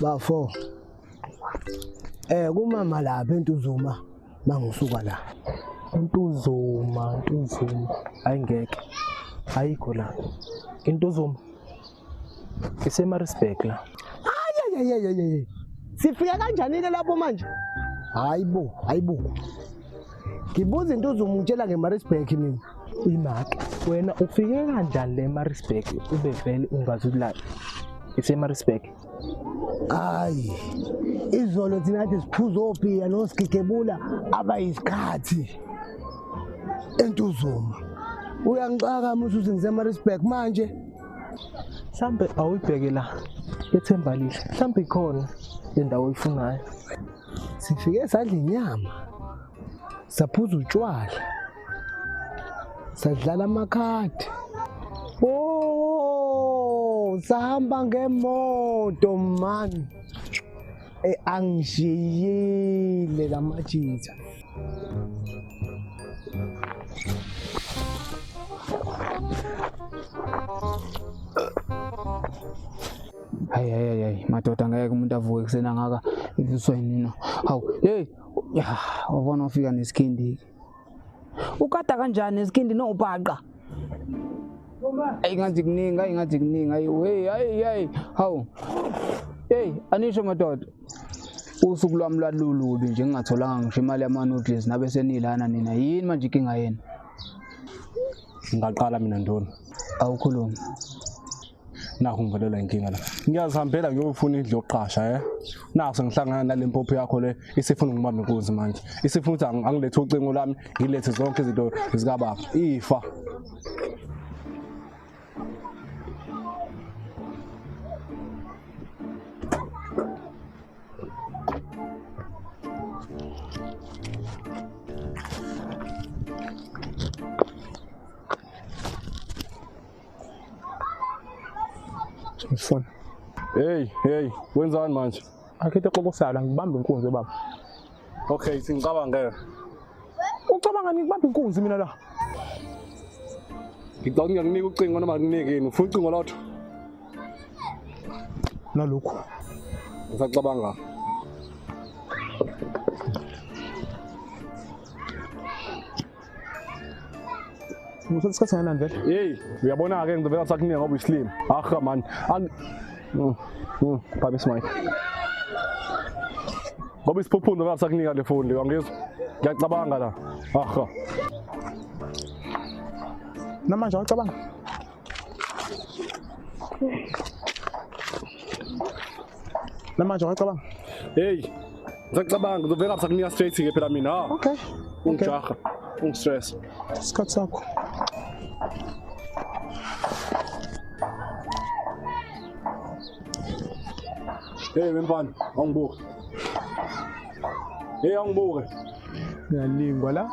bafo eh kumama lapha entuzuma mangisuka la untuzuma untuzuma ayingeke ayikho la intuzuma isemaritzburg la ayayayayayay sifika kanjani-ke lapho manje hayi bo hayi bo ngibuza into uzomutshela ngemarisburg mina imake wena ufike kanjani le emarisburg ube vele ungazi ukulala isemarisburg hayi izolo thina kade siphuza opiya nosigigebula abayisikhathi entuzuma uyangixaka musuthi ngisemarisburg manje mhlampe awuyibheke la ethemba lihle mhlampe ikhona indawo oyifunayo sifike sadla inyama saphuza utshwala sadlala amakhadi o oh, sahamba ngemoto mani Eh, angishiyile la majitha hayi hayi hayi madoda ngeke umuntu avuke kusena ngaka ivuswa yinina hawu hey wabona ufika nesikhindi ukada kanjani esikindi nobhaqa ayi ngathi kuningi ayi ngathi kuningi ayi hey ayi ayi hawu hey anisho madoda usuku lwami lwalulubi nje ngingatholanga ngisho imali yama-noodles nabe senilana nina yini manje inkinga yenu ngingaqala mina ndoni awukhulumi nakho ngivelelwa inkinga la ngiyazihambela ngiyofuna indlu yokuqasha eh nakho sengihlangana nale mpopho yakho le isifuna ngibambe inkunzi manje isifuna ukuthi ang- angilethe ucingo lwami ngilethe zonke izinto zikababa ifa Ngifuna. Hey, hey, wenzani manje? Akhethe xokosayo la ngibamba inkunzi baba. Okay, singicabangela. Ucabanga ngikubamba inkunzi mina la. Ngicabanga ngiyakunika ucingo noma nginike yini? Ufuna ucingo lotho? Nalokhu. Ngisacabanga. Musa isikhathi nani vele? Hey, uyabona ke ngidobela ukuthi akuningi ngoba uyislima. Ahha man. Ang Mm. Mm. Bhabe smike. Ngoba isiphuphundo ngathi sakunika le foni leyo angizwa. Ngiyacabanga la. Ahha. Namanje awacabanga. Namanje wacabanga? Hey. Ngisacabanga ngizovela kusakunika straight ke phela mina. Ah. Okay. Ungijaha. Ungistress. Isikhathi sakho. Hey wemfana, awungibuke. Hey awungibuke. Ngiyalingwa la.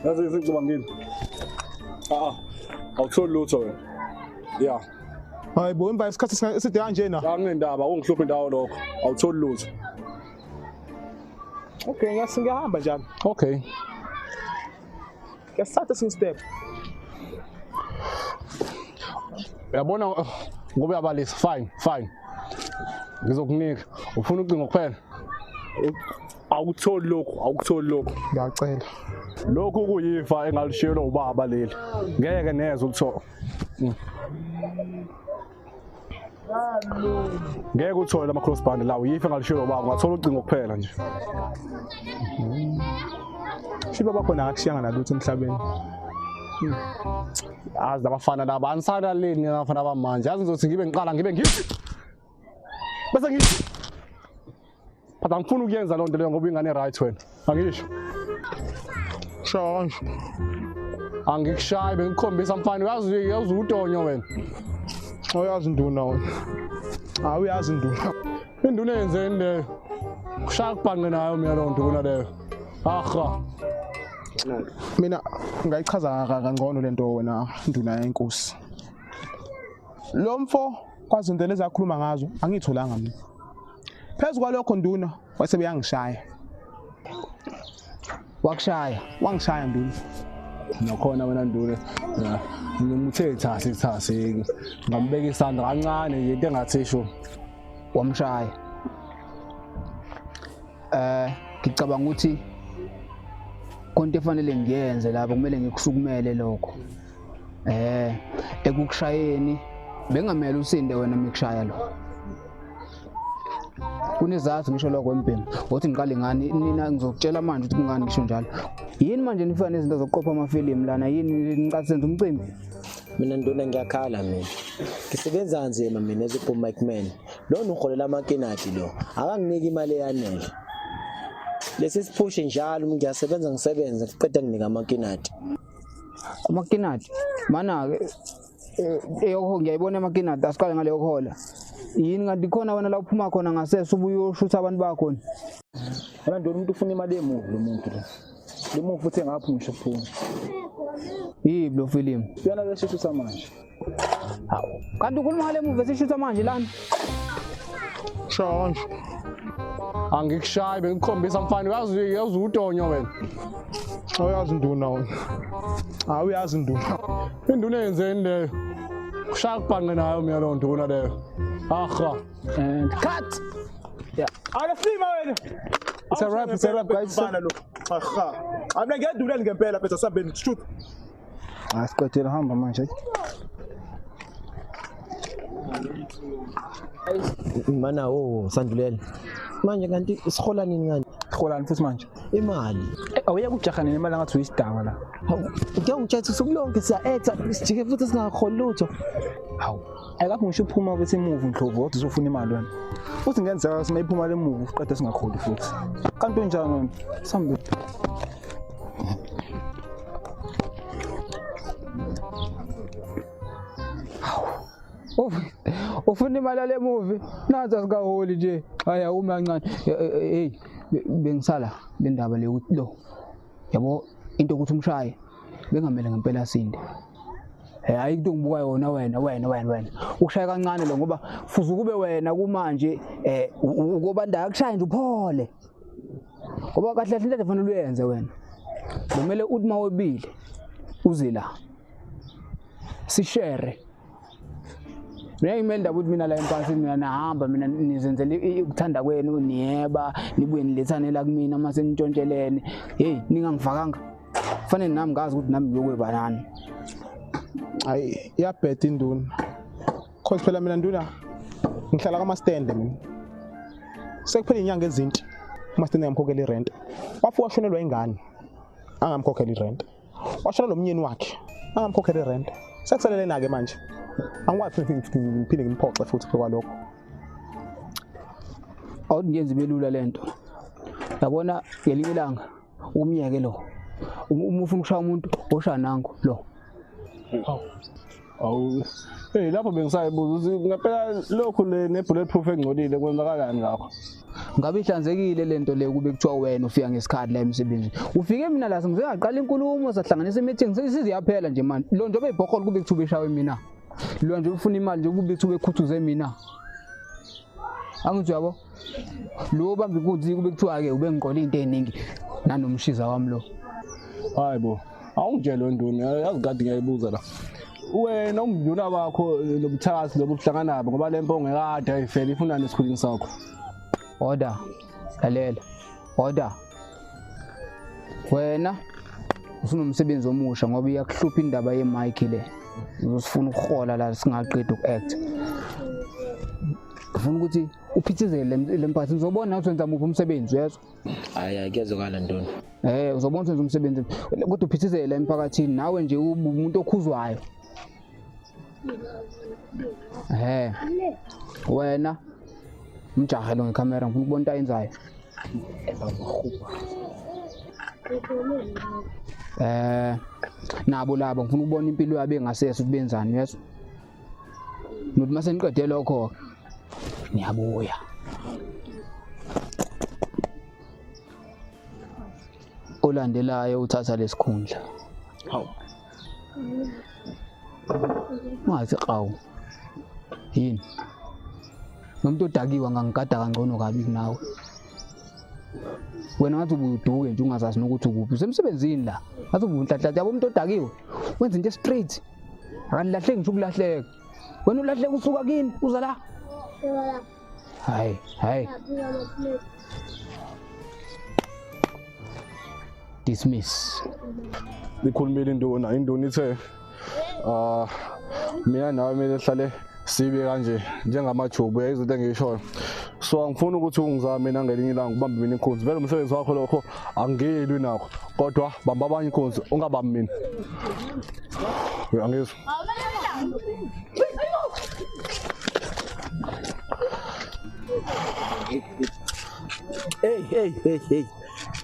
Yazi isicabangile. Ah, awutholi lutho wena. Yeah. Hayi bo emva isikhathi sika- eside kanjena. Angendaba ungihluphe ndawo lokho. Awutholi lutho. Okay, ngiyas- ngiyahamba njalo. Okay. Yasithatha esinye step. Uyabona uh, ngoba uyabalisa fine fine. Ngizokunika ufuna ucingo kuphela. Awukutholi lokho awukutholi lokho. Ngiyacela. Lokhu kuyifa engalishiyelwa ubaba leli. Ngeke neze ukuthola. Mm. ngeke uthole lama cross band lawo yife ngalishilo baba ungathola ucingo kuphela nje shiba bakhona akakushiyanga nalutho emhlabeni azi labafana laba anisalaleni nabafana bamanje azi ngizothi ngibe ngiqala ngibe ngithi bese ngithi but angifuni ukuyenza loo nto leyo ngoba ingane right wena angisho shosho angikushayi bengikhombisa mfana uyazi uyazi utonyo wena oyazi induna wena hayi uyazi induna induna yenzeni leyo kushaya kubhanqe nayo mina loo nto kunaleyo aha mina ngayichaza kangcono le nto wena nduna yenkosi lo mfo kwazinto lezakhuluma ngazo angiyitholanga mina phezu kwalokho nduna wase uyangishaya wakushaya wangishaya nduna nakhona wena nduna ngimuthe thasi thasi ngambeka isandla kancane nje into engathi sho wamshaya eh ngicabanga ukuthi konke efanele ngiyenze lapho kumele ngikusukumele lokho Eh ekukushayeni bengamele usinde wena mikushaya lo. Kunezathu ngisho lokho empini. Wothi ngiqale ngani nina ngizokutshela manje ukuthi kungani ngisho njalo. Yini manje nifika nezinto zokuqopha amafilimu lana yini nicathi senza umcimbi? mina nduna ngiyakhala mina ngisebenza kanzima mina as a mic man lona uholela amakinati lo akanginiki imali eyanele lesi siphushe njalo ngiyasebenza ngisebenze kuqeda nginika amakinati amakinati mana-ke eh, eyokho ngiyayibona amakinati asiqale ngale yokuhola yini kanti khona wena la uphuma khona ngasese ubuye uyoshutha abantu bakho ni wena ndona umuntu ufuna imali emuvi lo muntu lo lo mufi uthe ngaphi ngisho phuma yiblo filimu yona leshishisa manje Hawu, kanti ukhuluma ngale muva esishutha manje lana. Shonje. Angikushayi bengikukhombisa mfana uyazi uyazi utonyo wena. Awuyazi induna wena. Hawu uyazi induna. Induna yenzeni leyo? Kushaya kubhanqe nayo mina lo nduna leyo. Aha. And cut. Yeah. Alifima wena. It's a wrap, it's a wrap, guys. Mfana lo. Aha. Amna ngiyadulani ngempela phela sambeni truth. asiqedela hamba manje mana o oh, sandulela manje kanti sihola nini kanti siholani futhi manje imali eh, awuye kujaha nini imali angathi uyisidakwa la uke ungitshetha usuku lonke siya-etha sijike futhi singaholi lutho hawu ayikaphi ngisho uphuma ukuthi imuvu ndlovu kodwa uzofuna imali wena futhi ngenzeka ukuthi uma iphuma le muvu uqede singaholi futhi kanti unjani wena sambili ufuna imali yale movie nathi asikaholi nje haya umi kancane hey bengisala le ndaba le ukuthi lo yabo into ukuthi umshaye bengamele ngempela sinde Eh hayi into ngibuka yona wena wena wena wena. Ushaya kancane lo ngoba fuza ukube wena kumanje eh ukobanda akushaye nje uphole. ngoba kahle kahle into efanele uyenze wena kumele uthi uma webile uze la sishere mina ngimele ndaba ukuthi mina la empasini mina nahamba mina nizenzela ukuthanda kwenu niyeba nibuye nilethane la kumina uma senintshontshelene heyi ningangifakanga kufanele nami ngazi ukuthi nami ngiyokweba nani hayi iyabheda induna cause phela mina nduna ngihlala kwamastende mina sekuphela inyanga ezinti umastende ngamkhokhela irent wafi washonelwa ingane angamkhokhela irent washona lomnyeni wakhe angamkhokhela irent sekuselelena ke manje angikwazi ngiphinde ngimphoxe futhi kwalokho awukungenzi belula lento yabona ngelinye ilanga umyeke lo uma ufuna ukushaya umuntu osha nangu lo awu hey lapho bengisayibuza ukuthi ngempela lokhu le ne-bullet proof engcolile kwenzakalani ngakho ngabe ihlanzekile le nto le kube kuthiwa wena ufika ngesikhathi la emsebenzini ufike mina la sengizengaqala inkulumo sahlanganisa i-meeting siziyaphela nje mani lo nje obeyibhokholo kube kuthiwa ubeshawe mina lo nje ubufuna imali nje kube kuthiwa bekhuthuze mina angithi uyabo lo bambi kunzi kube kuthiwa ke ube ngiqola into eziningi nanomshiza wami lo hayi bo awungitshele nduni yazi kade ngiyayibuza la wena umduna wakho lobuthakathi lobu kuhlangana nabo ngoba le mpongo ekade ayifele ifuna nesikhulini sakho order lalela order wena ufuna umsebenzi omusha ngoba iyakuhlupha indaba yemike le uzosifuna ukuhola la singaqedi uku-act ngifuna ukuthi uphithizele le mphathi ngizobona ukuthi wenza muphi umsebenzi uyezwa hayi hayi kuyezwakala ntoni eh uzobona ukuthi wenza umsebenzi kodwa uphithizele emphakathini nawe nje umuntu okhuzwayo eh wena mjahe lo ngekhamera ngifuna ukubona into ayenzayo eh nabo labo ngifuna ukubona impilo yabo engasese ukuthi benzani uyezwa Ngithi mase niqede lokho ngiyabuya. Olandelayo uthatha lesikhundla. Hawu. Ungathi qawu. Yini? Nomuntu odakiwe ngangigada kangcono kabi kunawe. wena ngathi ubuduke nje ungazazi nokuthi ukuphi usemsebenzini la ngathi ubunhlanhlatha yabo umuntu odakiwe wenza into straight akanilahleki ngisho ukulahleka wena ulahleka usuka kini uza la hayi hayi dismiss ikhulumile induna induna ithe ah mina nawe kumele sihlale sibe kanje njengamajubu yayizinto engishoyo so angifuni ukuthi ungizame mina ngelinye ilanga ubambe mina inkunzi vele umsebenzi wakho lokho angiyelwi nakho kodwa bamba abanye inkunzi ungabambi mina uyangizwa Hey hey hey hey.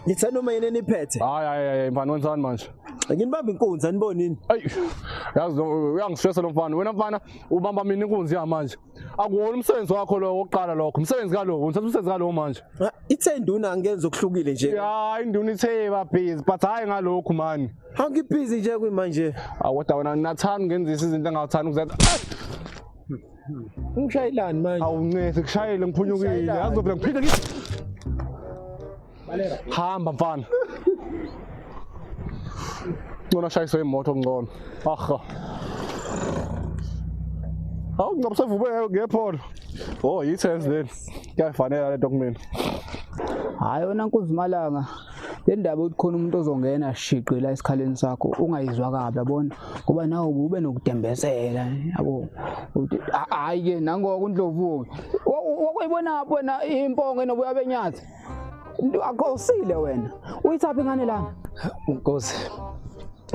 Ngithe noma yini eniphethe? Hayi hayi hayi mfana wenzani manje? nginibamba inkunzi anibonini ayi yazi uyangistressa lo mfana wena mfana ubamba mina inkunzi yamanje akuwona umsebenzi wakho lowo wokuqala lokho umsebenzi kalowo ngithatha umsebenzi kalowo manje ah, ithe induna angenza okuhlukile nje ya induna ithe babhizi but hhayi ngalokhu mani angibhizi nje kwimanje awoda ah, wena nginathanda ngenzisa izinto engawuthanda ukuzenza ungishayelani manje awuncese kushayele ngiphunyukile yazi phela ngiphinde ngithi hamba mfana ngcono ashayiswe imoto ngcono aha awu ngcobo sevume ngepholo o oh, yi-tens leni kuyayifanela le nto kumina hhayi yona nkuzimalanga le ndaba ukuthi khona umuntu ozongena shiqi la esikhaleni sakho ungayizwa kabi yabona ngoba nawe ube nokudembezela yabo hhayi-ke nangoko undlovu-ke wakwayibona wena impongo enobuya benyathi Akosile wena. Uyithaphi ngane lana? Nkosi.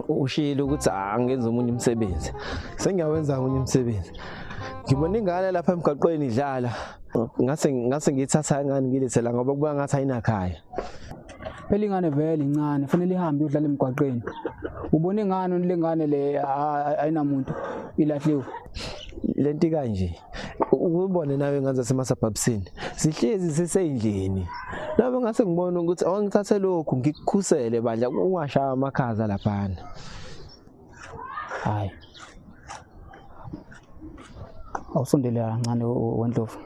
Ushilo ukuthi angenza umunye umsebenzi. Sengiyawenza umunye umsebenzi. Ngibona ingane lapha emgaqweni idlala. Ngase ngase ngithatha ingane ngilethela ngoba kuba ngathi ayinakhaya. Phela ingane vele incane, fanele ihambe udlala emgwaqeni. Ubona ingane lengane le ayinamuntu ilahliwe. Lento kanje. ukubone nawe ngane zasemasabhabisini sihlezi siseyindlini nabo ngase ngibona ukuthi awangithathe lokhu ngikukhusele bandla ungashaya amakhaza laphana hayi awusondele kancane wendlovu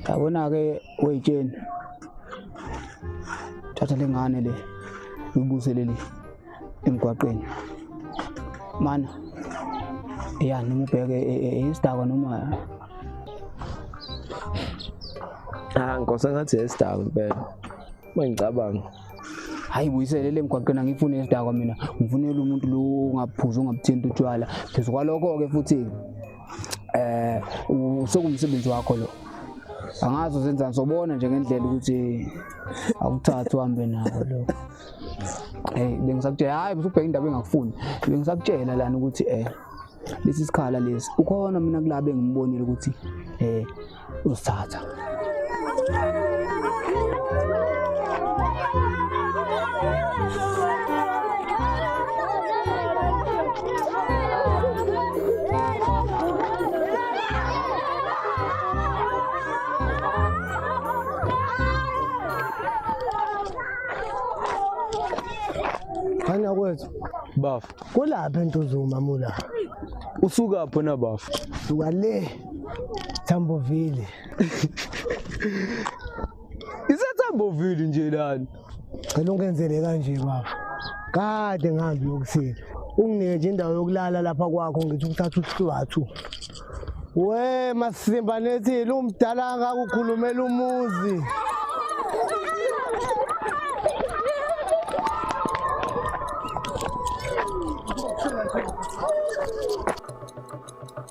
yabona-ke weyitsheni thatha lengane le uyibuzelele emgwaqeni mana ya noma ubheke e, e, e, isidakwa noma ah nkosi ngathi isidakwa impela uma ngicabanga hayi buyisele le mgwaqeni angifuni isidakwa mina ngifunela umuntu lo ongaphuzi ongabuthinti utshwala phezu kwalokho-ke futhi eh usekuwumsebenzi wakho lo angazi uzenza ngizobona nje ngendlela ukuthi awuthathi uhambe nako lo hey bengisakutshela hayi usubheka indaba engakufuni bengisakutshela lana ukuthi eh lesi sikhala lesi ukhona mina kulabo engimubonile ukuthi eh uzithatha Khanya kwethu bafo kulaphi entuzuma mula usukaphi na bafo suka le Thambovile. Isethambovile nje lana. Cela ungenzele kanje baba. Kade ngihambi yokuthini. Unginike nje indawo yokulala lapha kwakho ngithi ukuthatha uhlwathu. We masimba nethi lumdala akakukhulumela umuzi.